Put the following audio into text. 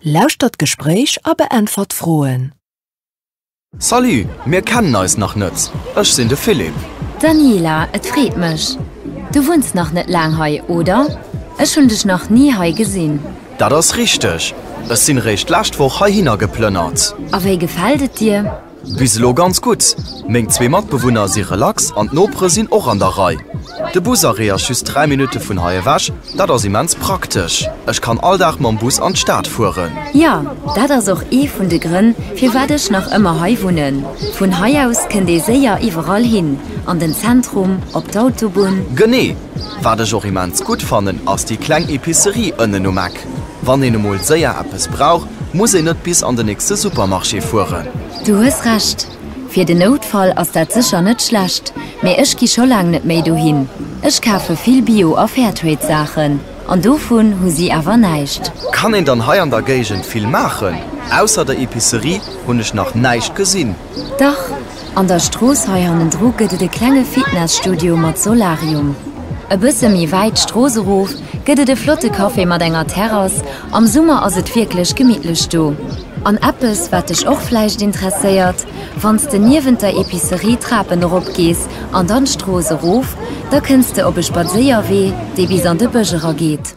Lauschtert d'Gespréich a beäntwert d'Froen. Salut, mir kennen eis nach net. Ech sinn de Philippe. Daniela, Et freet mech. Du wunns nach net laang hei, oder? Ech hunn dech nach ni hei gesinn. Dat ass richteg. Ech sinn eréischt d'lescht Woch heihinner geplënnert. A wéi gefält et dir? Bis elo ganz gutt. Meng zwee Matbewunner si relax an d'Nopere sinn och an der Rei. De Busarrêt ass just 3 Minutte vun hei ewech, dat ass immens praktesch. Ech kann all Dag mam Bus an d'Stad fueren. Jo, dat ass och ee vun de Grënn, firwat ech nach ëmmer hei wunnen. Vun hei aus kënnt ee séier iwwerall hin, an den Zentrum, op d'Autobunn. Genee. Wat ech och immens gutt fannen, ass déi kleng Epicerie ënnen um Eck. Buttek. Wann een emol séier eppes brauch, muss een net bis an den nächste Supermarché fueren. Du hues Recht, fir den Noutfall ass dat sécher net schlecht, mee ech gi scho laang net méi dohin. Ech kafe vill Bio a Fairtrade Saachen, an dovun hu si awer näischt. Kann een dann hei an der Géigend vill maachen? Ausser der Epicerie hunn ech nach näischt gesinn. Dach, an der Strooss hei hannendru gëtt et e klenge Fitness-Studio mat Solarium. E bësse méi wäit d'Strooss erof gëtt et e flotte Café mat enger Terrass, am Summer ass et wierklech gemittlech do. An eppes, wat dech och vläicht interesséiert, Wann s de niewent der Epicerie d'Trapen erop gees an dann d'Strooss erof, da kënns de op e Spadséierwee, dee bis an de Bësch era geet.